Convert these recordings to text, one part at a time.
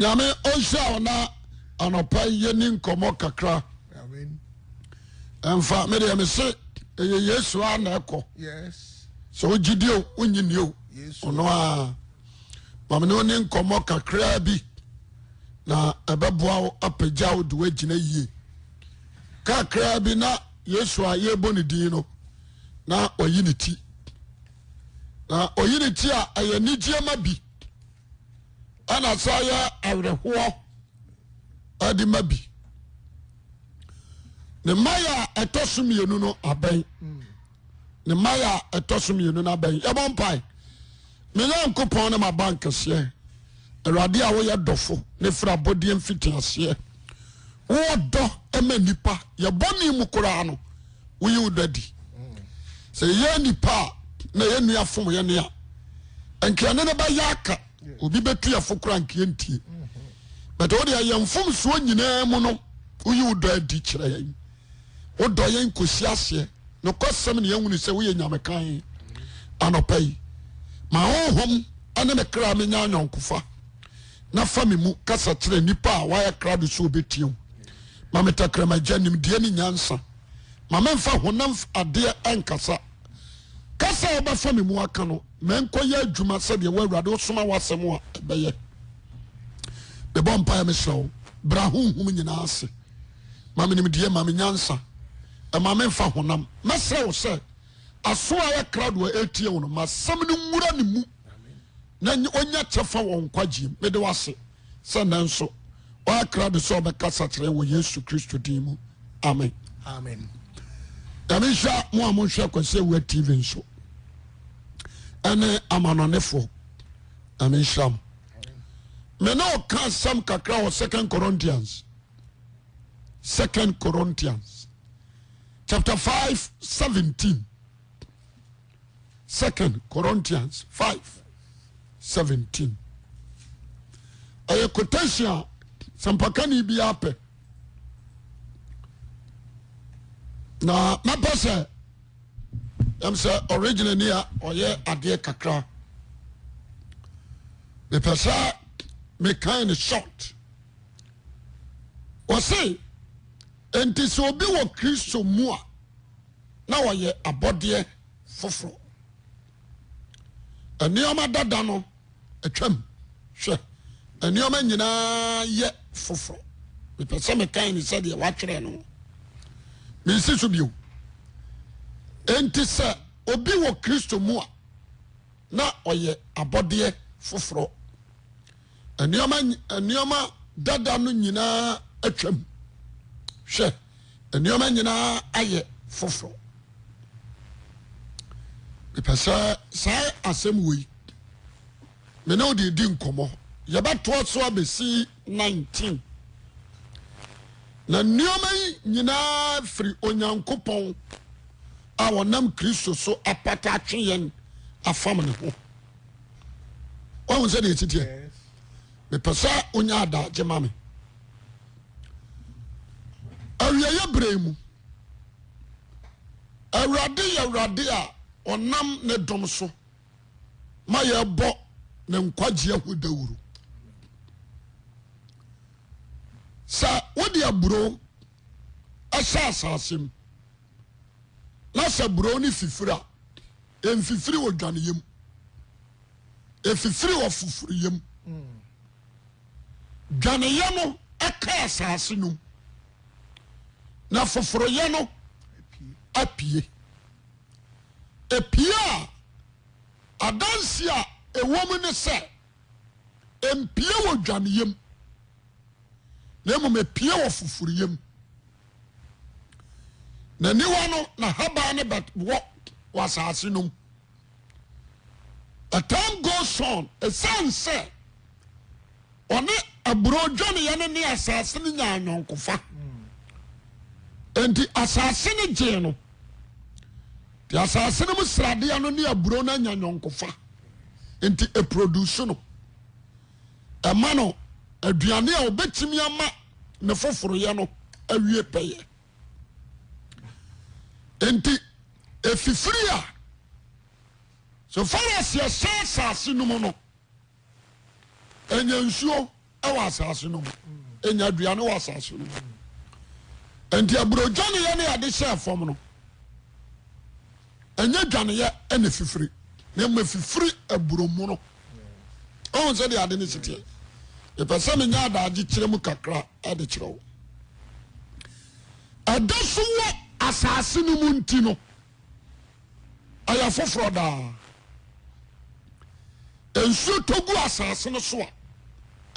nyame ɔnhyira wo na anɔpa yi yɛni nkɔmmɔ kakra ɛmfa medeɛ me se ɛyɛ yesu a na ɛkɔ sɛ wogye di o wonyi ni o ɔno a mame ne ɔni nkɔmmɔ kakraa bi na ɛbɛboa wo apagya wo de woagyina yie kakraa bi na yesu a yɛbɔ ne din no na ɔyi ne ti na ɔyi ne ti a ɛyɛ nigyeɛ ma bi ɛna sɛ ayɛ awerɛhoɔ ɛde ma bi ne mmayɛ a ɛtɔ so mmienu no abɛn ne mmayɛ a ɛtɔ so mmienu no abɛn yɛbɔ mpae me nyankopɔn ne ma bank kɛseɛ awurade a woyɛ dɔfo ne fira abɔdeɛ mfiti aseɛ wodɔ ma nipa yɛbɔ ne mu koraa no woyi wo dɔ adi sɛ yɛyɛ nipa a na yɛ nua fom yɛ ne a nka ɛne no bɛyɛ aka obi bɛtu yɛfo kora nkeɛ ntie but wode ɛyɛ mfomsoɔ nyinaa mu no woyi wo dɔ adi kyerɛ yɛn wodɔ yɛn kɔsi aseɛ nokɔsɛm ne yɛhunu sɛ woyɛ nyamekan anɔpa yi ma honhom ne me kra menya anyɔnkofa na fa me mu kasa kyerɛ nnipa a wɔayɛ krado sɛ wɔbɛtia wo. Ma me tɛkrɛma agya nimdeɛ ne nyansa. Ma memfa honam adeɛ ɛnkasa. Kasa a wobɛfa me mu aka no, ma ɛnkɔyɛ adwuma sɛdeɛ wo Awurade wosoma w'asɛm a ɛbɛyɛ. Mebɔ mpaeɛ mesrɛ wo, bra honhom nyinaa ase. Ma me nimdeɛ, ma me nyansa. Ɛma memfa honam. Mɛsrɛ wo sɛ, aso a ayɛ krado a ɛretie wo no, ma asɛm no nwura ne mu. na ɔnya kyɛfa wɔ nkwagyeɛ mu mede wase sɛ nɛ nso ɔakra de sɛ ɔbɛkasa kyerɛ wɔ yesu kristo din mu amen amen nyame nhyira mo a monhwɛ kwasi awua tv nso ɛne amanɔnefoɔ nyame nhyira mo me ne ɔka asɛm kakra wɔ second corinthians second corinthians chapter 5 17 Second Corinthians five seventeen. Ɛyɛ quotation a sɛmpakani biara pɛ. Na mɛpɛ sɛ ɛm sɛ original ni a ɔyɛ adeɛ kakra. Mepɛ sɛ mekan ne short. Wɔse, enti sɛ obi wɔ Kristo mu a na wɔyɛ abɔdeɛ foforɔ. Nneɛma dada no atwam. Hwɛ, nneɛma nyinaa yɛ foforɔ. Mepɛ sɛ mekae ne sɛdeɛ wɔatwerɛ no. Mensi so bio. Enti sɛ obi wɔ Kristo mu a, na ɔyɛ abɔdeɛ foforɔ. nneɛma nneɛma dada no nyinaa atwam hwɛ nneɛma nyinaa ayɛ foforɔ mepɛ sɛ saa asɛm wei me ne wode di nkɔmmɔ yɛbɛtoa so abɛsi 19 na nneɛma yi nyinaa firi onyankopɔn a wɔnam kristo so apata atwe yɛn afam ne ho wahu sɛ deɛ ɛsi teɛ mepɛ sɛ wonya adagye ma me awieɛ berɛ mu awurade yɛ awurade a ɔnam ne dom so ma yɛbɔ ne nkwagye ho dawuro sɛ wode aburo ɛhyɛ asase mu na sɛ borɔn no fifiri a, ɛmfifiri wɔ dwaneyɛ mu. Ɛfifiri wɔ foforiyɛ mu. Dwaneyɛ no ɛka asase no mu, na foforoyɛ no apue. Ɛpue a, adanse a ɛwɔ mu ne sɛ, Ɛmpue wɔ dwaneyɛ mu, na mmom ɛpue wɔ foforeyɛ mu. N'aniwa no, n'ahaban no bɛwɔ wɔ asase no mu. The time goes on. Ɛsiane sɛ ɔne aburo dwaneyɛ no ne asase no nyaa nyɔnkofa. Enti asase no gyee no. Te asase no mu sradeɛ no ne aburo no anya nyɔnkofa nti ɛproduce no ɛma no aduane a ɔbɛtumi ama ne foforoyɛ no awie pɛyɛ nti ɛfifiri a so far as yɛhyɛ asase no mu no ɛnya nsuo wɔ asase no mu ɛnya aduane wɔ asase no mu nti aburogyaneyɛ ne ade hyɛ fam no ɛnyɛ dwaneyɛ ɛna fifiri na ɛma fifiri aburomono ɔhun sɛ de ade ne siteɛ ɛpɛ sɛ ne nya adagye kyerɛ mu kakra ɛde kyerɛ wo ɛda so wɔ asase no mu nti no Ɔyɛ foforɔ daa. Nsuo tɔ gu asase no so a,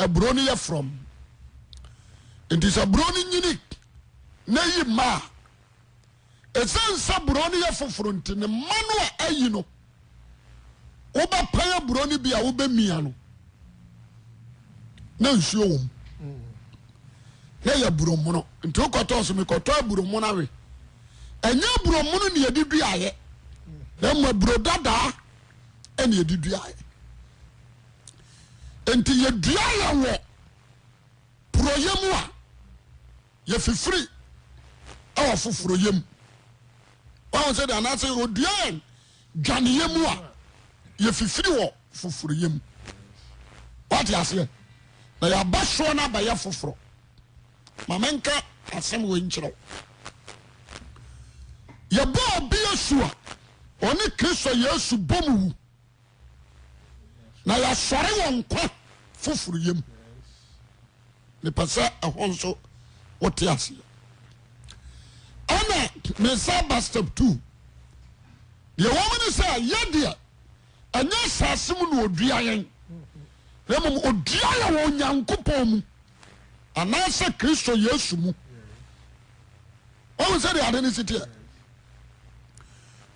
aburo no yɛ frɔm. Nti sɛ aburo no nyini na ayi mma a, ɛsiane sɛ aburo no yɛ foforɔ nti ne mma no a ayi no, wobɛpae aburo no bi a wobɛmia no na nsuo wɔ mu. na ɛyɛ aburo mono nti wokɔtɔɔ so mekɔtɔ aburo mono awe ɛnyɛ aburo mono ne yɛde duaeɛ na mmom aburo dadaa ɛne yɛde duaeɛ nti yɛdua yɛn wɔ porɔyɛ mu a yɛfifiri ɛwɔ foforɔyɛ mu wɔn sɛ de anaasɛ ɔdua yɛn dwaneyɛ mu a yɛfifiri wɔ foforoyɛ mu. Wate aseɛ? Na yɛaba soɔ no abɛyɛ foforɔ. Ma menka asɛm wei nkyerɛ wo. Yɛbɔ obi asu a ɔne Kristo Yesu bɔ mu wu, na yɛasɔre wɔ nkwa foforoyɛ mu. mepɛ sɛ ɛhɔ nso wote aseɛ ɛna mesa ba step two deɛ wɔn ne sɛ yɛ deɛ ɛnyɛ asase mu na odua yɛn na mmom odua yɛ wɔ onyankopɔn mu anaasɛ kristo yesu mu wɔn sɛ deɛ ade ne si teɛ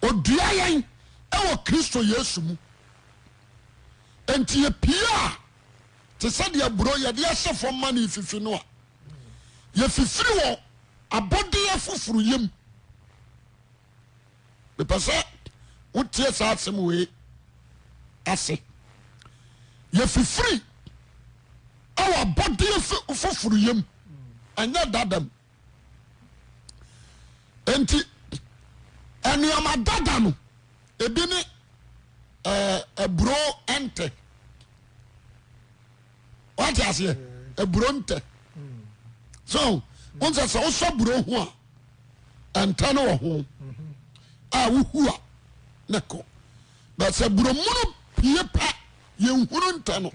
odua yɛn ɛwɔ kristo yesu mu nti yɛ pii a te sɛ deɛ aburo yɛde ahyɛ fam ma no refifi no a, yɛfifiri wɔ abɔdeɛ foforo yam. Mepɛ sɛ wotie saa asɛm wei ase. Yɛfifiri wɔ abɔdeɛ foforo yam, ɛnyɛ dadam. nti nneɛma dada no ebi ne aburo eh, ntɛ wate aseɛ aburo eh, ntɛ so wọn sɛ sɛ wosɔ aburo ho a ntɛ no wɔ ho a wohu a ne kɔ bɛsɛ aburo mono pie pɛ yɛn hunu ntɛ no.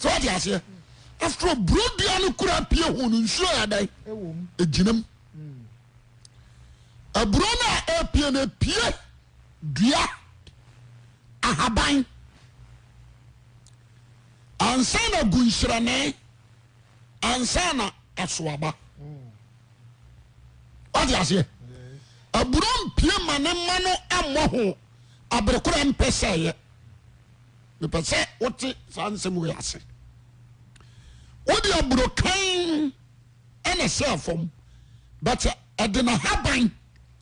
sɛ wate aseɛ after all buro dua no kura pie ho no nsuo yɛ adan ɛgyinam aburo no a ɛpie no ɛpie dua ahaban ansa na gu nhyerɛne ansa na asoaba wate aseɛ aburo mpie ma ne ma no ammɔ ho aberekora mpɛ sɛ yɛ mepɛ sɛ wote saa nsɛm wei ase wode aburokan ɛna sɛ fam but ɛde na haban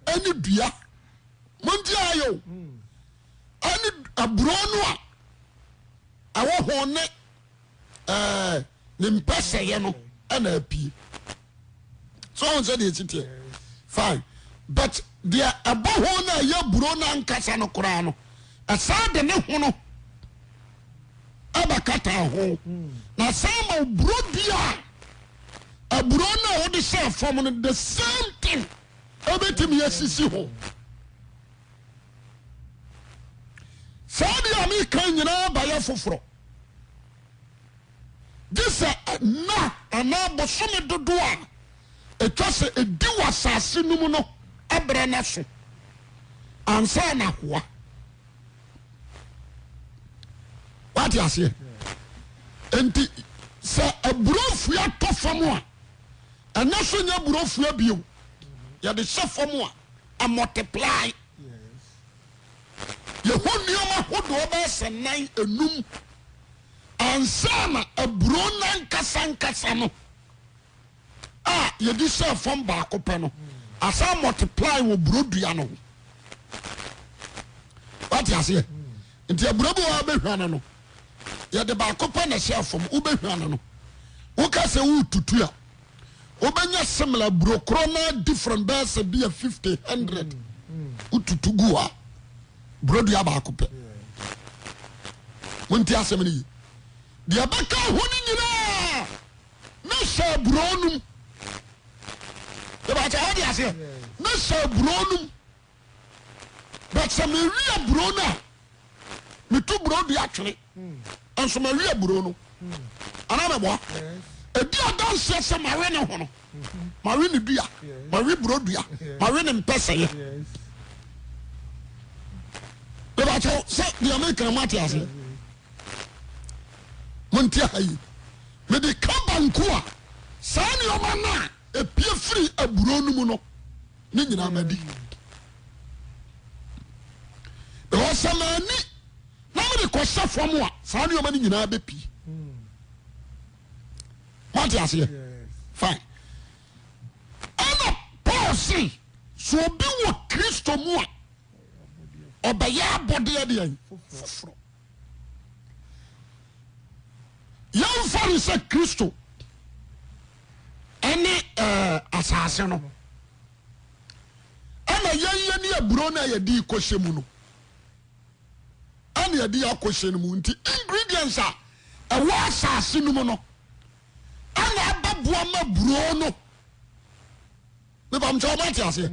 ɛne dua monti ayɛ o ɛne aburo no a ɛwɔ ho ne ɛɛ ne mpɛsɛyɛ no ɛna apue so wɔn sɛ deɛ ɛsi teɛ fine but deɛ ɛbɔ ho na ɛyɛ buro na nkasa no koraa no ɛsan de ne ho no ɛbɛkata ho na san ma buro di a aburo no a wɔde hyɛ fam no the same thing ɛbɛtumi asisi ho. saa deɛ a meka nyinaa bayɛ foforɔ Gye sɛ nna anaa bosome dodoɔ a ɛtwa sɛ ɛdi wɔ asase no mu no berɛ no aso ansa na ahoa. Wate aseɛ? Enti sɛ aburofua atɔ fam a, ɛnɛ so nyɛ aburofua bio. Yɛde hyɛ fam a, ɛmɔteplae. Yɛhu nneɛma hodoɔ bɛyɛ sɛ nnan enum ansa na aburoo no ankasa ankasa no a yɛde hyɛɛ fam baako pɛ no asan multiply wɔ buro dua no ho. Wate aseɛ? Nti aburo bi wɔ bɛhwa no no yɛde baako pɛ na ɛhyɛɛ fam wobɛhwa no no woka sɛ woretutu a Wobɛnya similar aburo korɔ na different bɛyɛ sɛ bi a fifty hundred wotutu gu hɔ a buro dua baako pɛ monti asɛm no yi deɛ ɛbɛka ho no nyinaa na hyɛ aburo nom ɛbɛkyɛ ɔde aseɛ na hyɛ aburo nom but sɛ mewi aburo no a metu buro dua twene nso mawi aburo no anaa mɛboa ɛdi adanseɛ sɛ mawe ne ho no mawe ne dua mawe buro dua mawe ne mpɛsɛyɛ mebakyɛw sɛ deɛ mekra mo ate aseɛ monte ha yi mede ka banku a saa nneɛma no a ɛpie firi aburo no mu no ne nyinaa madi because sɛ maani na mede kɔhyɛ fam a saa nneɛma no nyinaa bɛpii wate aseɛ fine ɛna paul se so obi wɔ kristo mu a ɔbɛyɛ abɔdeɛ deɛ foforɔ yɛmfa no sɛ kristo ɛne ɛɛ asase no ɛna yɛn yɛn ne aburo no a yɛde rekɔhyɛ mu no ɛna yɛde akɔhyɛ no mu nti ingredients a ɛwɔ asase no mu no ɛna abɛboa ma aburo no mepamkyɛ ɔba te aseɛ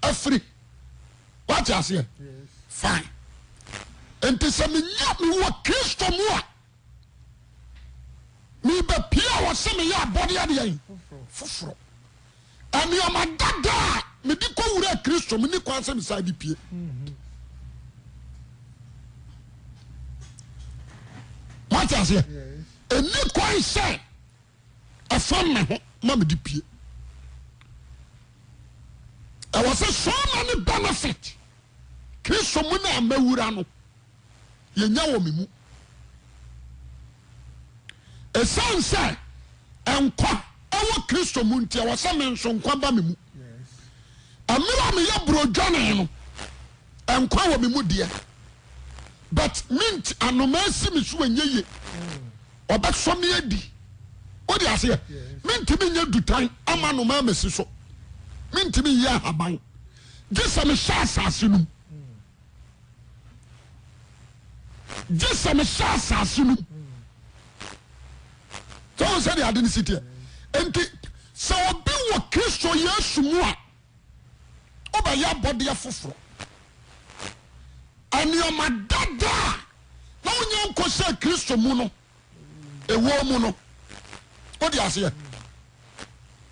afiri wate aseɛ fine nti sɛ menya mewɔ kristo mu a Mebɛpue a wɔse meyɛ abɔde adeɛn? Foforo. Nnoɔma dada a mede kɔ wura Kristo menni kwan sɛ mesan de pue. Mate aseɛ? Ɛnni kwan sɛ ɛfam me ho ma mede pue. Ɛwɔ sɛ so many benefit Kristo mu no a mawura no. yɛnya wɔ me mu. Ɛsiane sɛ nkwa wɔ Kristo mu nti, ɛwɔ sɛ me nso nkwa ba me mu. Mmerɛ a meyɛ burodwane no, nkwa wɔ me mu deɛ, but mint anomaa si me so ɛnyɛ ye. Ɔbɛsɔ me adi. Wode aseɛ? Mentumi nyɛ dutan ama anomaa masi so. Mentumi nyɛ ahaban. Gye sɛ mehyɛ asase no mu. gye sɛ mehyɛ asase no mu sɛ wɔn sɛdeɛ ade no si teɛ nti sɛ obi wɔ kristo yesu mu a wobɛyɛ abɔdeɛ foforɔ nneɛma dada a na wonya nkɔ sɛ kristo mu no ɛwɔ mu no wode aseɛ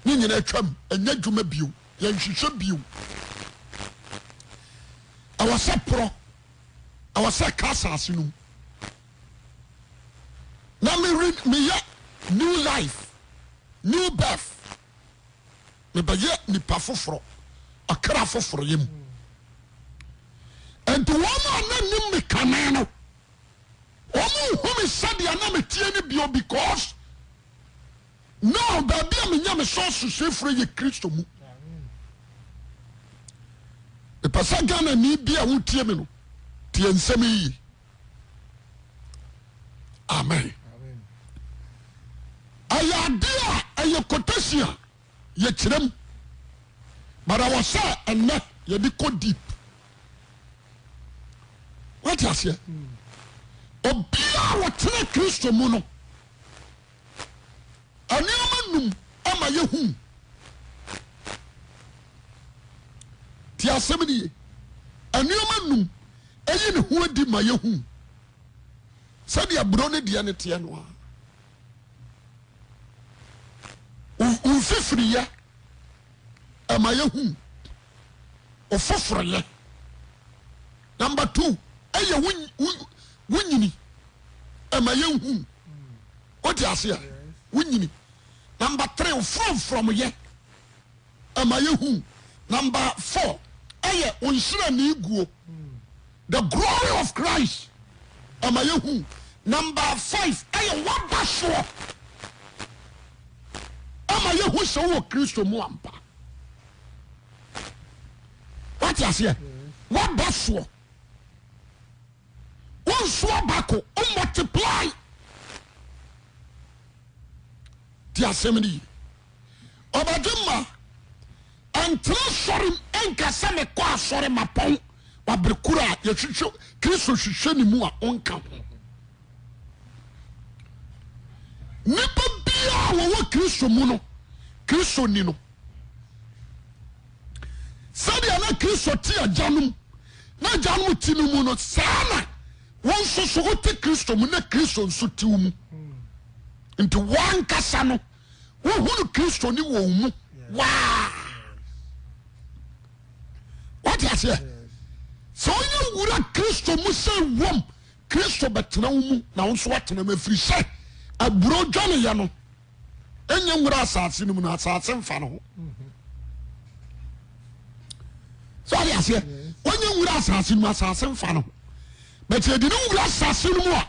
ne nyina atwam ɛnyɛ adwuma bio yɛnhwehwɛ bio ɛwɔ sɛ porɔ ɛwɔ sɛ ka asase no mu na meyɛ new life new birth mebɛyɛ nipa foforɔ ɔkra foforɔ yɛ mu ɛnti wɔn a na nim me kane no Wɔn nhu me sɛdeɛ na me teɛ no bio because now baabi a menya me sources efiri yɛ Kristo mu. Mepɛ sɛ Ghana ni bi a wotie me no tie nsɛm yi yie. Amen. Ɛyɛ adeɛ a ɛyɛ quotation a Yɛkyerɛ mu, but ɛwɔ sɛ ɛnɛ yɛde kɔ deep. Wate aseɛ? Obiara a wɔtena Kristo mu no, nneɛma num ama yɛhu. Ti asɛm no ye. Nneɛma num ɛyi ne ho adi ma yɛhu. Sɛdeɛ aburo ne deɛ no teɛ no a, wo mfifiriyɛ ɛma yɛhu wo foforeyɛ number two ɛyɛ wo nyini ɛma yɛhu wote aseɛ wo nyini number three wo frɔmfrɔmyɛ ɛma yɛ hu. Number four ɛyɛ ɔnhyira nii guo the glory of Christ ɛma yɛ hu. Number five ɛyɛ waba soɔ ɛma yɛ hu sɛ wɔ Kristo mu ampa. Wati aseɛ waba soɔ wɔn nsuo baako wɔn multiply ti asɛm ni. ɔbɛgye ma ɛntra sɔre mu ɛnka sɛ mekɔ asɔre mapɔn wabere koro a yɛhwehwɛ kristo hwehwɛ ne mu a ɔnka ho nnipa biara a wɔwɔ kristo mu no kristo ni no sɛdeɛ na kristo te agya no mu na agya no te no mu no saa na wɔn nso so wote kristo mu na kristo nso te mu nti wɔn ankasa no wohunu kristo ne wɔn mu waa wate aseɛ sɛ wonya wura kristo mu sɛ wom kristo bɛtena wo mu na wo nso atena mu ɛfiri sɛ aburo dwaneyɛ no ɛnyɛ nwura asase no mu no asase mfa no ho sɛ wate aseɛ wonya wura asase no mu asase mfa no ho bɛti ɛdi ne wura asase no mu a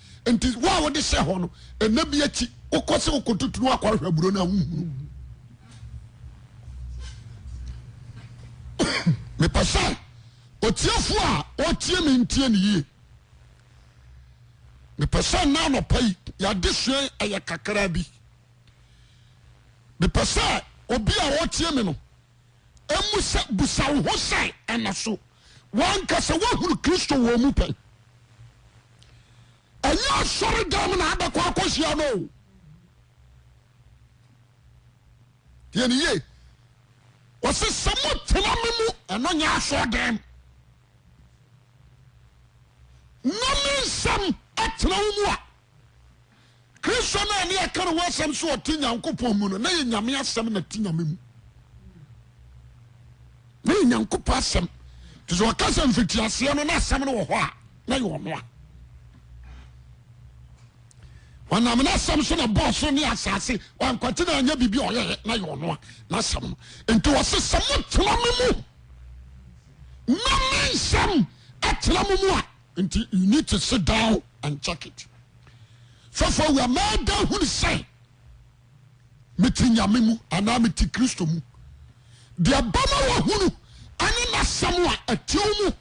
nti wo a wode hyɛ hɔ no ɛna bi akyi wokɔ sɛ wokɔtutunu akɔ ahwɛ aburo no a wohunu mepɛ sɛ ɔtiefo a ɔtie me ntie ne yie mepɛ sɛ nna anɔpa yi yɛade sua ɛyɛ kakra bi mepɛ sɛ obi a ɔtie me no ɛmu sɛ busa wo ho sɛ ɛna so wɔankasa woahunu Kristo wɔ mu pɛn. Ɛnyɛ asɔre dɛm na abɛkɔ akɔhyia no o. Deɛ ne yie, wɔsi sɛ mo tena me mu ɛno nyɛ asɔre dɛm. Na me nsɛm ɛtena wo mu a. Kristo no a ne yɛka ne ho asɛm sɛ ɔte Nyankopɔn mu no, na yɛ Nyame asɛm na te Nyame mu. Na yɛ Nyankopɔn asɛm. Nti sɛ ɔka sɛ mfitiaseɛ no na asɛm no wɔ hɔ a, na yɛ ɔno a. Ɔnam n'asɛm so na bɔɔ so ne asase. Wankwati na anyɛ biribi a ɔyɛɛ na yɛ ɔno a n'asɛm no. Nti ɔse sɛ motena me mu na me nsɛm atena mo mu a. Nti you need to sit down and check it fɛfo awura mɛɛda hunu sɛ mete nyame mu anaa mete kristo mu deɛ bɛma wahunu ɛne n'asɛm a ɛtew mu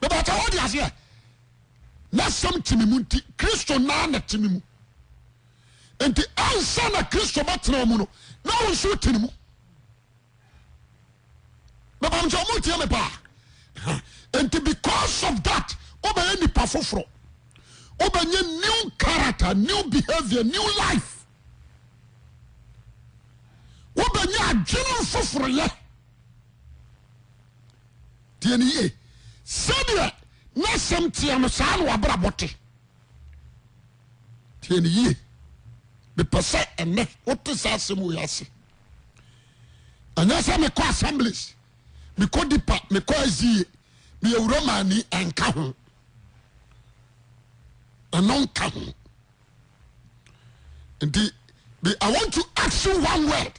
bɛbɛta hɔ de aseɛ n'asɛm te me mu nti kristo naa na te me mu nti ansa na kristo bɛtena mu no na wo nso te ne mu bɛbam nti ɔmo tie me paa nti because of that wobɛyɛ nipa foforɔ wobɛnyɛ new character new behavior new life wobɛnyɛ adwene foforɔyɛ deɛ ne yie sɛdeɛ na sɛm teɛ no saa na wabrabɔ te deɛ ne yie mepɛ sɛ ɛnɛ wote saa asɛm wei ase Ɛnyɛ sɛ mekɔ assemblies, mekɔ deeper, mekɔ SDA, meyɛ Romani, ɛnka ho. Ɛno nka ho. Nti, I want to ask you one word.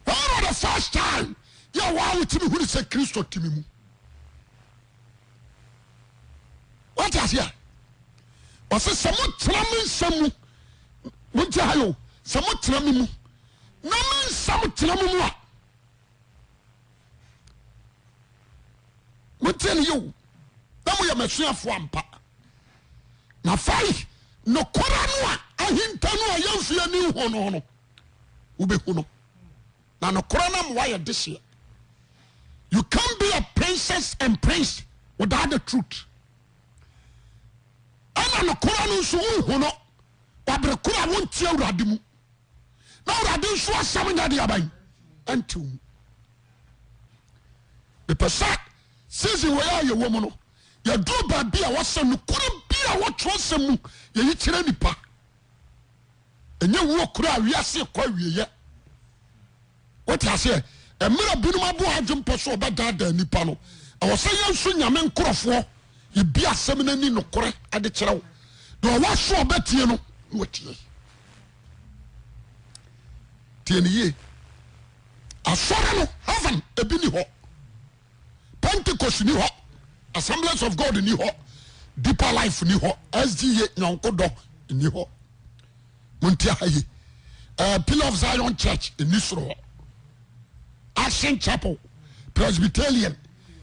When was the first time yɛ wɔn a wotumi hunu sɛ Kristo tumi mu? wate aseɛ ɔse sɛ motena me nsɛm mu monte ha yo sɛ motena me mu na me nsɛm tena mo mu a motie ne yio na moyɛ m'asuafoɔ ampa na afei nokora no a ahinta no a yɛmfeɛ ni ho no no wobɛhu no na nokorɛ no ama wayɛ dehyeɛ. You can't be a princess and prince without the truth. Ɛna nokorɛ no nso wohu no wabere koro a wontie awurade mu. Na awurade nso asɛm nyɛ de aban ɛntew mu. Mepɛ sɛ season wɔ yɛ a yɛwɔ mu no yɛduru baabi a wɔsɛ nokorɛ bi a wɔtwerɛ sɛm mu yɛyi kyerɛ nipa. ɛnyɛ wuo kura a wiase kɔ awieɛ wote aseɛ mmerɛ binom aboa adwempɔ so ɔbɛdaadaa nipa no ɛwɔ sɛ yɛn nso nyame nkorɔfoɔ yɛbi asɛm no ani nokorɛ ade kyerɛ wo deɛ ɔwɔ so ɔbɛtie no na watie tie no yie asɔre no heaven ebi ni hɔ pentecost ni hɔ assemblance of god ni hɔ deeper life ni hɔ sda nyɔnko dɔ ni hɔ monti aha ye uh, pillar of zion church ni soro hɔ action chapel presbyterian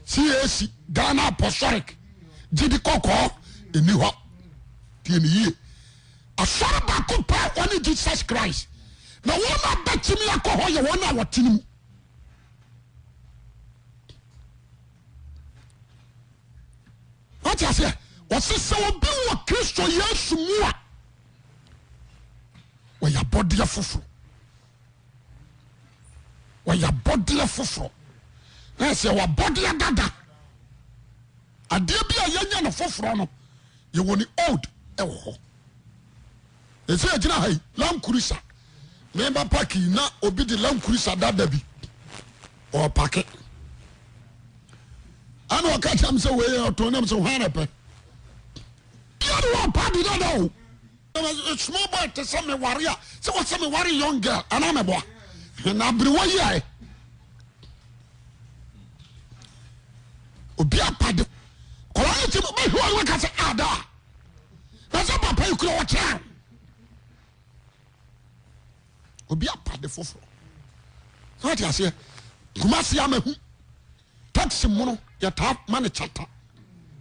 cac ghana apostolic gyidi kɔkɔɔ ni hɔ tie ne yie asɔre baako pɛ wɔne jesus christ na wɔn a bɛtumi akɔ hɔ yɛ wɔn a wɔte ne mu wate aseɛ ɔse sɛ obi wɔ kristo yesu mu a wɔyɛ abɔdeɛ foforɔ wɔyɛ abɔdeɛ foforɔ na ɛsɛ wɔabɔdeɛ dada Adeɛ bi a yɛnyɛ no foforɔ no, yɛwɔ ne old wɔ hɔ. Ɛsɛ yɛgyina ha yi, Land Cruiser. Meba park yi na obi de Land Cruiser dada bi ɔpake. Ɛna ɔka kyerɛ m sɛ wei ɔtɔn nam sɛ hwan na pɛ. Bia ne wɔpa de dada o. a small boy te sɛ me ware a sɛ wɔsɛ me ware young girl anaa mɛboa na aberewa yi ayɛ obi apade kɔla ne ti bɛ hwɛ wɔn kasa ada na sɛ papa yi kura ɔkyɛn obi apade foforɔ sɛ wɔte aseɛ kumasi amahu Taxi mono yɛtaa ma no chata.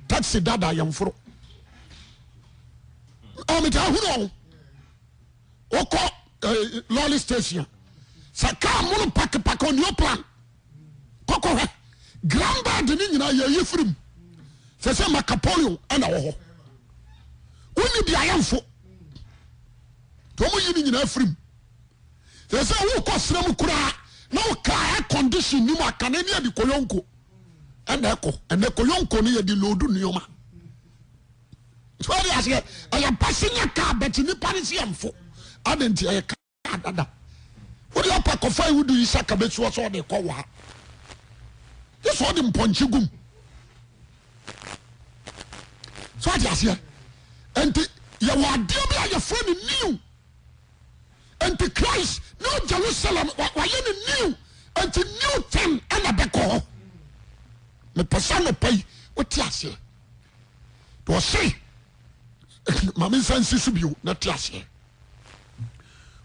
Taxi dada yɛmforo. Ɔ metaa hunu ɔho. Wokɔ eh, lorry station. Sɛ kaa mono pakepake onio plan. Kɔkɔ hwɛ. Grand bad ne nyinaa yɛyi firi mu. Sɛ sɛ Macapolio ɛna wɔ hɔ. Wonni biayɛ mfo. Tɔmo yi ne nyinaa firi mu. Te sɛ wokɔ serɛ mu koraa na wo kaa air condition ni mu a, kane ne yɛde koyonko ɛna ɛkɔ. Ɛnɛ koyonko no yɛde load nneɛma. So ɛde aseɛ ɛyɛ passenger car bɛte nipa ne sɛ ɛmfo. Adɛn nti ɛyɛ car dada. Wode apa kɔfa iwudu yi sɛ kabesuo sɛ ɔde kɔ waa. Gye sɛ ɔde mpɔnkye gum. So ɛde aseɛ. Nti yɛwɔ adeɛ bi a yɛfrɛ no new. Enti Christ New Jerusalem wayɛ no new Enti new thing ɛna bɛkɔ hɔ Mepɛ sɛ anɔpa yi wote aseɛ Deɛ ɔse Mame nsa nsi so bio na te aseɛ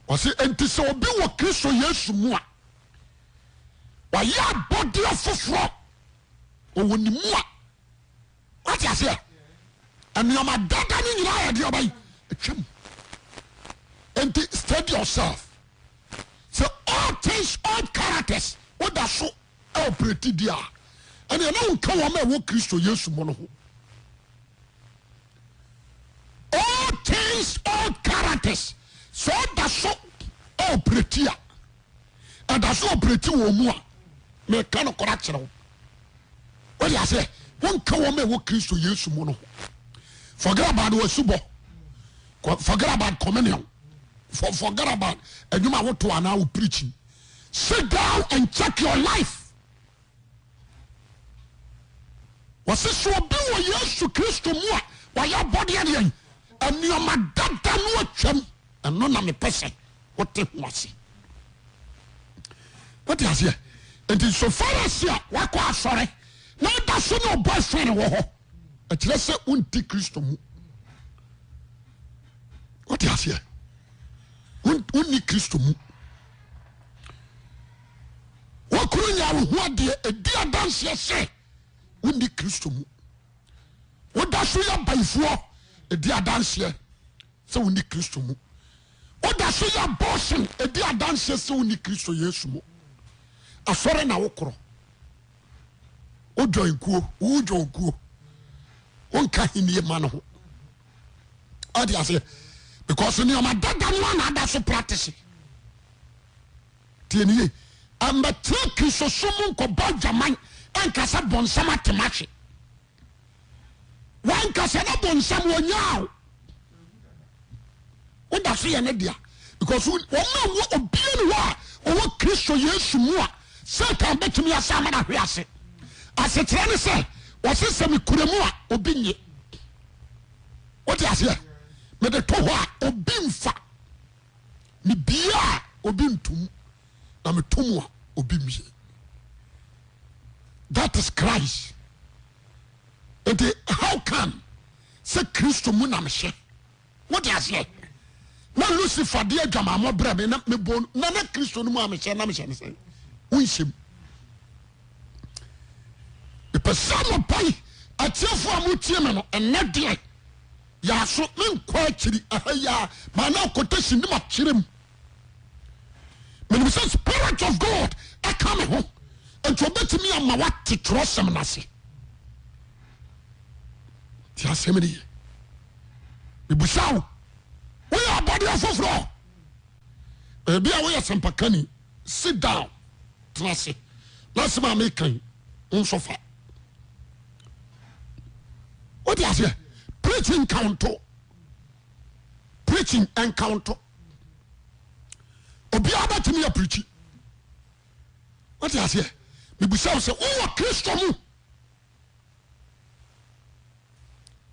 Ɔse enti sɛ obi wɔ Kristo Yesu mu a Wayɛ abɔdeɛ foforɔ Ɔwɔ ne mu a wate aseɛ nneɛma dada no nyinaa yɛ deɛ ɔbɛyi atwam nti steady yourself sɛ all things all characters woda so operate di a ɛnna ɛna wo ka wɔn a ɛwɔ kristo yesu mu no ho all things all characters sɛ ɔda so operate a. ɛda so ɔprɛti wɔn mu a, meka nokorɛ akyerɛ wo. Wode aseɛ, wonka wɔn a ɛwɔ Kristo Yesu mu no ho. Forget about wasubɔ. Forget about communion. For, forget about adwuma a woto anaa wo preaching. Sit down and check your life. Wɔse sɛ obi wɔ Yesu Kristo mu a, wayɛ abɔdeɛ adeɛn? Nneɛma dada no atwam. Ɛno na mepɛ sɛ wote ho ase. Wote aseɛ? Nti so far as a wakɔ asɔre na ɔda so ne ɔbɔ ɛfɛre wɔ hɔ, ɛkyerɛ sɛ wonti Kristo mu. Wote aseɛ? Wonni Kristo mu. W'akuru nyaa wo ho adeɛ ɛdi adanseɛ sɛ wonni Kristo mu. Woda so yɛ bayifoɔ ɛdi adanseɛ sɛ wonni Kristo mu. Woda so yɛ abortion ɛdi adanseɛ sɛ wonni Kristo Yesu mu. Asɔre na wokorɔ. Wo join kuo, wo join kuo. Wonka henie ma no ho. Ɔde aseɛ. Because nneɛma dada no a na ada so practice. Tie no yie. Mmɛtena Kristosom mu nkɔbɔ adwaman nka sɛ bonsam ate mahwe. Wankasa na bonsam wɔnyaa o. Woda so yɛ ne dea. Because wɔn a wɔ obia ne hɔ a ɔwɔ Kristo Yesu mu a Satan bɛtumi asa ama no ahwe ase. Asekyerɛ ne sɛ wɔse sɛ mekura mu a obi nye. Wote aseɛ? Mede to hɔ a obi mfa. Mebue a, obi nto mu, na meto mu a, obi mmue. That is Christ. Nti how come sɛ Kristo mu na mehyɛ? Wote aseɛ? Na Lucifer de adwamammɔ brɛ me na mebɔ no na na Kristo no mu a mehyɛ na mehyɛ no sɛ wonhyɛm. Mepɛ sɛ mopɔn atiefoɔ a motie me no ɛnɛ deɛ Yaaso me nkɔ akyiri ɛha yi ara maa na quotation ne ma kyerɛ mu. Menim sɛ spirit of God ɛka me ho nti ɔbɛtumi ama wate twerɛsɛm no ase. Ti asɛm no ye. Mebusa wo, woyɛ abɔdeɛ foforɔ? Ebi a woyɛ sɛmpakani. sit down tena ase na asɛm a meka yi wo nso fa wote aseɛ preaching nka wo nto preaching nka wo nto obiara bɛtumi apirikyi wote aseɛ mebusa wo sɛ wowɔ kristo mu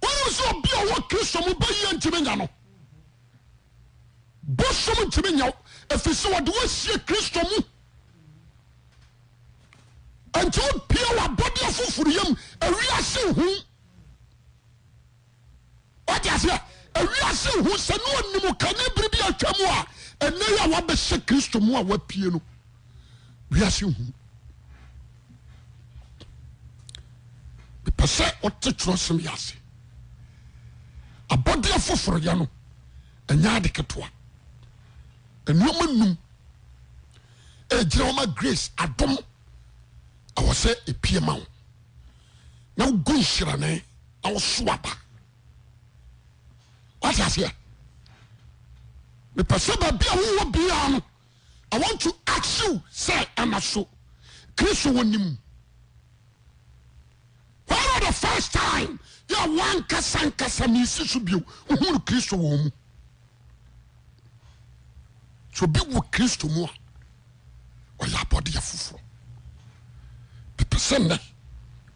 Wonim sɛ obi a ɔwɔ Kristo mu bɛyɛ ntumi nya no. Bosom ntumi nya wo ɛfiri sɛ wɔde woasie Kristo mu. Nti wopie w'abɔdeɛ foforɔ yam, ewiase ho. wate aseɛ ewiase hu sɛ ne ɔnim kane bere bi atwa mu a ɛnɛ yi a wabɛhyɛ kristo mu a wapie no wiase hu mepɛ sɛ ɔte twerɛsɛm yɛ ase abɔdeɛ foforoyɛ no ɛnyɛ ade ketewa nneɛma num ɛgyina wɔma grace adom ɛwɔ sɛ ɛpie ma wo na wogu nhyirane na woso aba wate aseɛ mepɛ sɛ baabi a wowɔ biara no i want to ask you sɛ ɛna so kristo wɔ nim when was the first time yɛ wankasa nkasa ne si so bio wohunu kristo wɔ mu so bi wɔ kristo mu a ɔyɛ abɔdeɛ foforɔ mepɛ sɛ nnɛ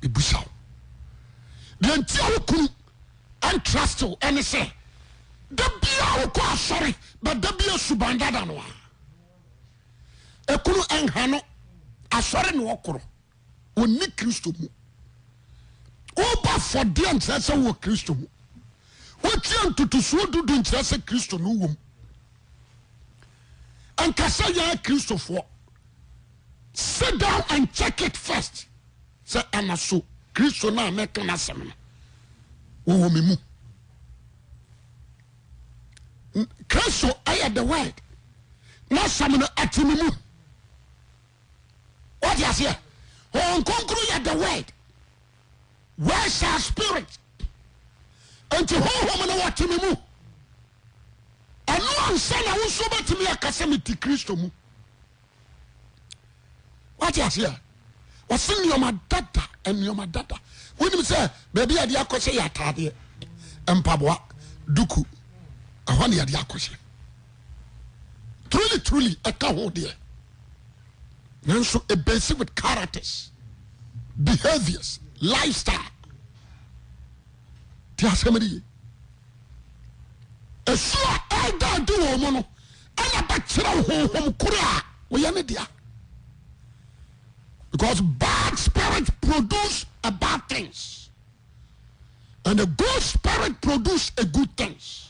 mebusa wo deɛ nti a wo kunu ɛntrust wo ɛne sɛ da biaa wokɔ asɔre bɛda bia suban dada no a ɛkunu ɛnha no asɔre ne ɔkorɔ ɔnni Kristo mu. Wobɔ afɔdeɛ nkyerɛ sɛ wowɔ Kristo mu. Wotia ntotosoɔ dudu nkyerɛ sɛ Kristo no wom. Ɛnka sɛ yɛyɛ Kristofoɔ. Sit down and check it first. Sɛ ɛna so Kristo no a mɛka no asɛm no wɔwɔ me mu. Kristo ɛyɛ the word. N'asɛm no ɛte me mu. wate aseɛ hon kronkron yɛ the word word sa spirit nti honhom no wɔte me mu ɛno ansa na wo nso bɛtumi aka sɛ mete kristo mu wate aseɛ wɔse nneɛma dada nneɛma dada wonim sɛ baabi a de akɔ sɛ yɛ ataadeɛ mpaboa duku ɛhɔ ne yɛde akɔ sɛ Truly truly ɛka ho deɛ nanso e base with characters behaviours lifestyle ti asɛm de ye ɛsuo a ɛda adi wɔn mu no ɛna bɛkyerɛ honhom koro a wɔyɛ ne dea because bad spirit produce a bad things and a good spirit produce a good things.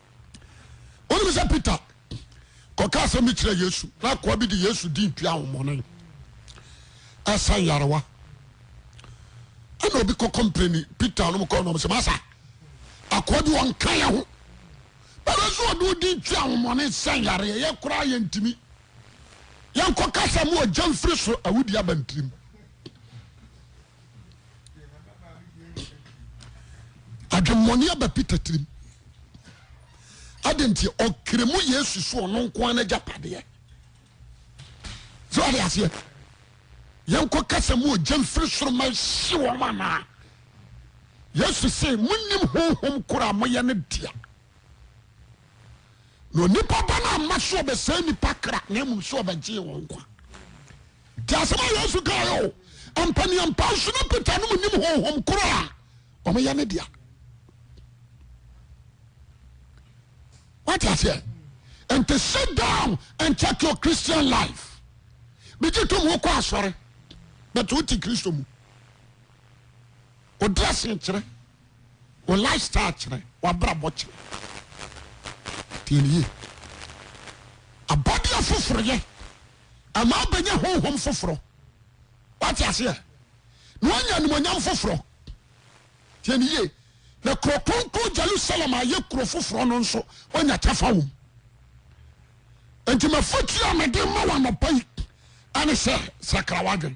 Wonim sɛ Peter kɔka asɛm bi kyerɛɛ Yesu, na akoa bi de Yesu din tua ahomɔne ɛsa nyarewa. Ɛna obi kɔ kɔmpleni Peter nom kɔɔ nom sɛ, Masa, akoa bi ɔnka yɛ ho. Bɛbɛ nso ɔde odin tua ahomɔne ɛsa nyareɛ, yɛ koraa yɛ ntimi. Yɛnkɔ kasa mu ɔgya mfiri so awudi abantirim. adwemmɔne aba peter tirim adenti ɔkere mu yesu so ɔno nko ara n'agyapadeɛ so ade aseɛ yɛnkɔ kasa mu ogya mfiri soro ma ɛhye wɔn anaa yesu se monim honhom koro a moyɛ no dea Na onipa ba no amma so ɔbɛsɛe nnipa kra na mmom so ɔbɛgyee wɔn nkwa. Te asɛm a Yesu kaeɛ o, mpaniampa nso ne Peter nom nim honhom koro a wɔyɛ ne dea. Wate aseɛ? Nti sit down and check your Christian life. Bigye tom wokɔ asɔre, but wote Kristo mu. Ɔdrɛse nkyerɛ. Wo lifestyle kyerɛ, w'abrabɔ kyerɛ. Tie no yie. Abɔdeɛ foforoyɛ ɛma wobɛnya honhom foforɔ. Wate aseɛ? Na wanya animonyam foforɔ. Tie no yie. Na kuro kronkron Jerusalem a yɛ kuro foforɔ no nso, wanya kyɛfa wom. Enti mafotuo a mede ma w'anɔpa yi ɛne sɛ sakra w'adwene.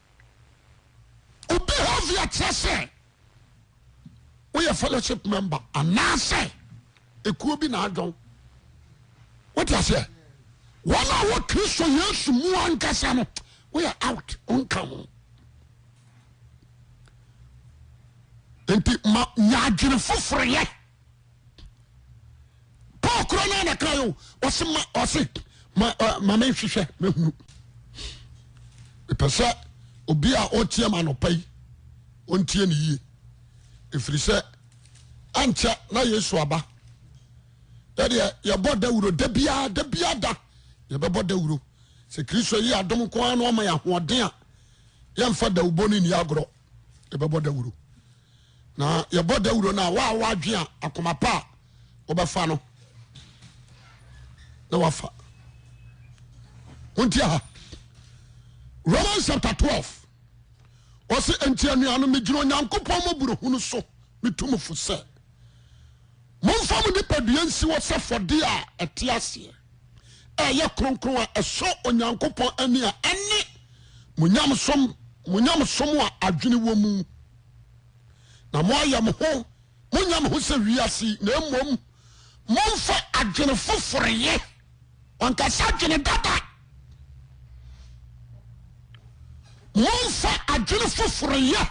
Obehavior kyerɛ sɛ woyɛ fellowship member anaasɛ ekuo bi na adwɔn. Wote aseɛ? Wɔn a wɔ Kristo Yesu mu ankasa no, woyɛ out, wonka ho. Nti ma nya adwene foforɔ yɛ. paul koro no na kan o ɔse ma ɔse ma ma me nhwehwɛ me hunu mepɛ sɛ obi a ɔteɛ ma anɔpa yi ɔntie ne yie ɛfiri sɛ ankyɛ na yesu aba yɛdeɛ yɛbɔ dawuro da biara da biara da yɛbɛbɔ dawuro sɛ kristo yi adom nko ara na ɔma yɛ ahoɔden a yɛmfa dawubɔ no nni agorɔ yɛbɛbɔ dawuro na yɛbɔ dawuro no a wo a woadwen a akoma pa a wobɛfa no na wafa wonti ha romans chapter 12 ɔse enti anuanom megyina onyankopɔn mɔborɔhunu so metu mo fo sɛ Momfa mo nipadua nsi hɔ sɛ fɔdeɛ a ɛte aseɛ, a ɛyɛ kronkron a ɛsɔ Onyankopɔn ani a ɛne mo nyamesom, mo nyamesom a adwene wɔ mu. Na moayɛ mo ho, monyɛ mo ho sɛ wiase yi, na mmom momfa adwene foforo yɛ. Wankasa adwene dada. Momfa adwene foforo yɛ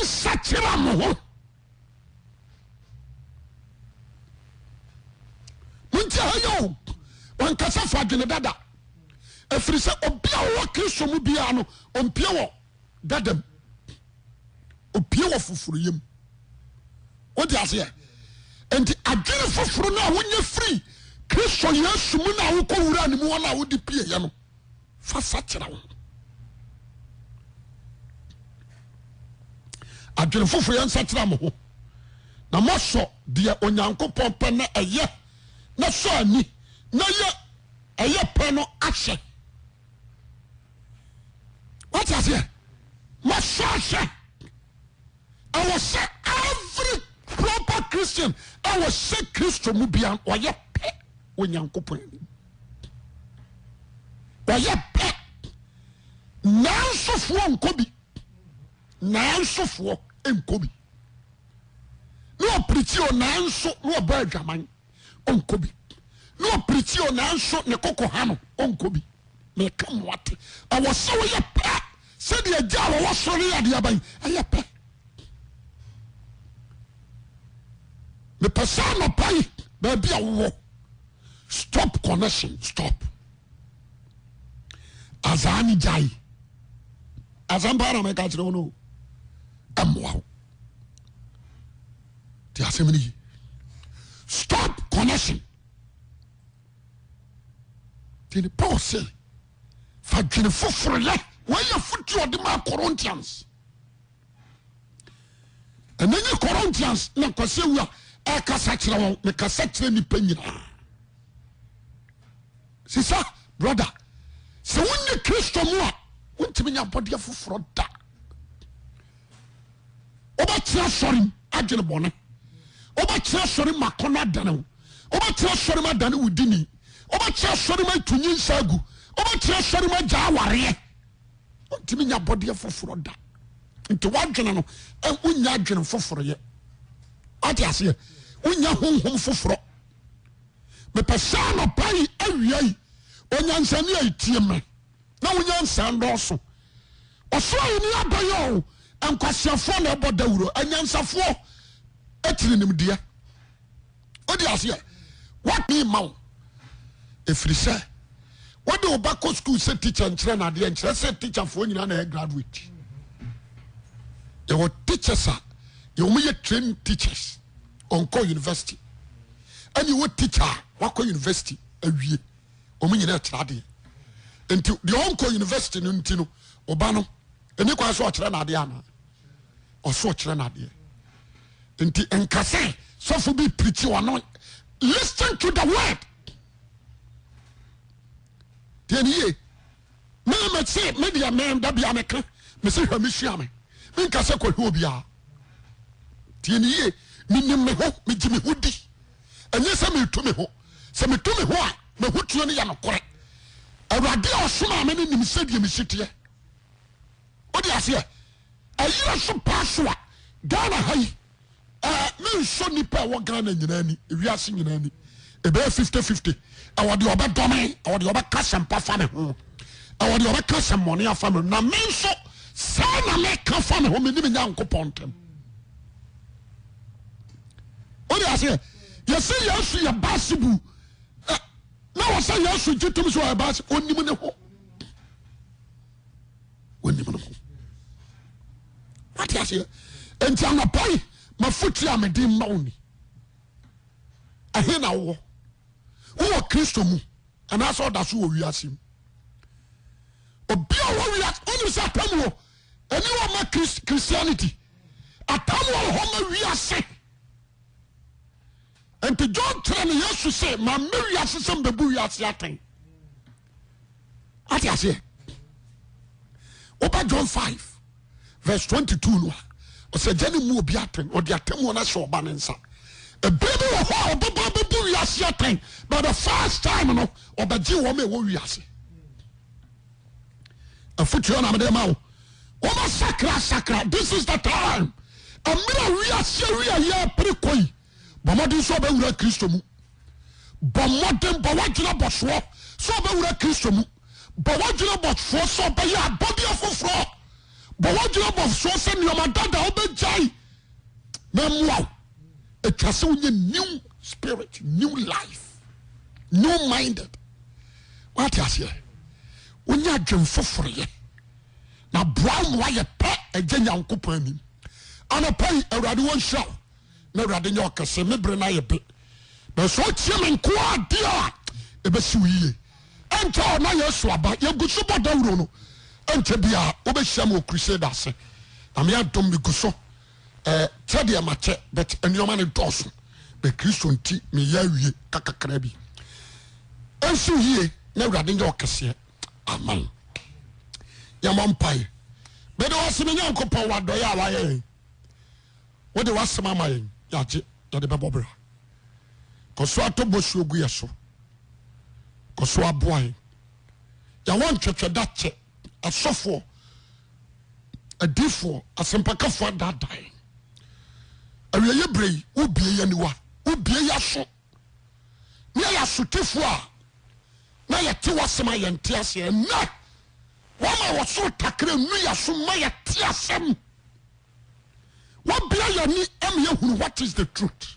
nsakyera mo ho. monti ha yɛ o wankasa fa adwene dada ɛfiri sɛ obi a ɔwɔ kristo mu biara no ɔmpie wɔ dada mu ɔpie wɔ foforo yam wode aseɛ nti adwene foforo no a wonyɛ firi kristo yesu mu no a wokɔ wura ne mu hɔ no a wode pieɛ no fa sakyera wo ho. Adwene foforo, Yɛnsakyera mo ho na moasɔ deɛ Onyankopɔn pɛ na ɛyɛ na sɔ ani na yɛ ɛyɛ pɛ no ahwɛ. Wate aseɛ? Moasɔ ahwɛ. Ɛwɔ sɛ every proper Christian ɛwɔ sɛ Kristo mu bia ɔyɛ pɛ wɔ Nyankopɔn anim. Ɔyɛ pɛ. Nansofoɔ nkɔ bi. Nansofoɔ nkɔ bi. Ne ɔpirikyi o nanso ne ɔbɔ adwaman. ɔnkɔ bi na ɔpirikyi o nanso ne koko ha no ɔnkɔ bi meka mo ate ɛwɔ sɛ woyɛ pɛ sɛdeɛ agya a wɔwɔ soro no yɛ adeɛ aban ɛyɛ pɛ mepɛ sɛ anɔpa yi baabi a wowɔ stop connection stop azaa ne gyae asɛmpa na meka kyerɛ wo no ɛmmoa wo te asɛm no yi stop connection tini paul se fa dwene foforo yɛ wɔyɛ fotuo ɔde ma corinthians ɛna nye corinthians na nkwasi awu a ɛkasa kyerɛ wɔn mekasa kyerɛ nipa nyinaa sisa brother sɛ wonni kristo mu a wontumi nya abɔdeɛ foforɔ da wobɛkyerɛ sɔre m adwene bɔne wobɛkyerɛ sɔre m akɔnɔ adane wo wobɛkyerɛ sɔre m adane wo dini wobɛkyerɛ sɔre m atu nyinsa agu wobɛkyerɛ sɔre m agya awareɛ ntumi nya bɔdeɛ foforɔ da nti wadwene no wonya adwene foforɔyɛ wate aseɛ wonya honhom foforɔ mepɛ sɛ anɔpa yi awia yi onyansani a ɛtie me na wo nyansa nnɔɔso. Ɔsoro Ahenni abɛyɛ o, nkwaseafoɔ na ɛbɔ dawuro, anyansafoɔ tiri nimdeɛ. Wode aseɛ? What me ma wo? Ɛfiri sɛ wode wo ba kɔ sukuu sɛ teacher nkyerɛ no adeɛ nkyerɛ sɛ teacherfoɔ nyinaa na ɛyɛ graduate. Yɛwɔ teachers a yɛwɔ yɛ trained teachers ɔnkɔ university ɛne wɔ teacher a wakɔ university awie. wɔn nyinaa ɛkyerɛ adeɛ nti deɛ ɔnkɔ university no nti no ɔba no ɛni kwan so ɔkyerɛ n'adeɛ ana ɔso ɔkyerɛ n'adeɛ nti nkasɛ sɔfo bi pirikyi ɔno listen to the word deɛ ne yie mene mese medeɛ meda bia meka mese hwɛ mesua me menka sɛ kɔhwɛ obiaa deɛ ne yie menim me ho megye me ho di ɛnyɛ sɛ metu me ho Sɛ metu me ho a, m'ahotuo no yɛ nokorɛ. Awurade a ɔsomaa me no nim sɛdeɛ mesi teɛ. Wode aseɛ? Ɛyerɛ so paa so a, Ghana ha yi, ɛɛ mensɔ nnipa a ɛwɔ Ghana nyinaa ani, ewiase nyinaa ani. Ɛbɛyɛ fifty fifty. Ɛwɔ deɛ ɔbɛdɔ me, ɛwɔ deɛ ɔbɛka sɛm pa fa me ho, ɛwɔ deɛ ɔbɛka sɛm bɔne afa me ho. Na me nso, saa na meka fa me ho, me ne me Nyankopɔn ntam. wode aseɛ yɛsɛ yesu yɛ baasibu na wɔ sɛ yesu gye tom sɛ ɔyɛ baasi ɔnim ne ho ɔnim ne ho wate aseɛ nti anɔpa yi mafotu a mede mma wo ni ɛhe na wowɔ wowɔ kristo mu anaasɛ ɔda so wɔ wiase mu obi a wɔ wiase ɔnim sɛ atam wɔ Ɛne wɔ ma Christ, Christianity. Atam wɔ hɔ ma wiase. Nti John kyerɛ no Yesu se mammɛ wiase sɛ mbebu wiase atɛn. Ate aseɛ? Woba John 5 verse 22 no a ɔsɛ gya ne mu obi atɛn ɔde atɛmuo no ahyɛ ɔba ne nsa. Ebere bi wɔ hɔ a ɔbɛba bɛbu wiase atɛn but the first time no ɔbɛgye wɔn a ɛwɔ wiase. afutuo na mede ma wo wɔn asakra asakra this is the time mmerɛ a wiase awi a yɛpere kɔ yi bɔ mmɔden sɛ ɔbɛwura kristo mu bɔ mmɔden bɔ wadwene bɔsoɔ sɛ ɔbɛwura kristo mu bɔ wadwene bɔsoɔ sɛ ɔbɛyɛ abɔdeɛ foforɔ bɔ wadwene bɔsoɔ sɛ nneɛma dada ɔbɛgyae na mmoa wo ɛtwa sɛ wonyɛ new spirit new life new minded Wate aseɛ? Wonya adwen foforo yɛ. Na boa wo ma woayɛ pɛ Agya Nyankopɔn anim. Anɔpa yi, Awurade wɔnhyira wo. Na Awurade nyɛ ɔkɛse. Me bere no ayɛ be. Nanso sɛ wotie me nko ara deɛ a, ɛbɛsi wo yie. Ɛnkyɛ hɔ na Yesu aba. Yɛgu so bɔ dawuro no. Ɛnkyɛ biara, wobɛhyiam wɔ crusade ase. Nyame adom, megu so. eh, kyɛ deɛ makyɛ but nneɛma no dɔɔso bɛ kristo nti meyɛ awie kakakra bi ɛnso yie na awurade nyɛ ɔkɛseɛ amen yɛmɔ mpae mede wasɛm nyankopɔn wadɔyɛ a wayɛ yɛn wode wasɛm ama yɛn yɛagye yɛde bɛbɔ bra kɔso atɔ bosuo gu yɛ so kɔso aboa yɛn yɛwɔ ntwɛtwɛ da kyɛ asɔfoɔ, adiyifoɔ, asɛmpakafoɔ adaadaa yɛn. Awieeɛ berɛ yi, wobue yɛn aniwa, wobue yɛn aso, na yɛyɛ asotifoɔ a na yɛte w'asɛm a yɛnte aseɛ. Ɛnnɛ, wama wɔsoro takra nu yɛn so ma yɛte asɛm. Wabue yɛn ani ama yɛhunu what is the truth.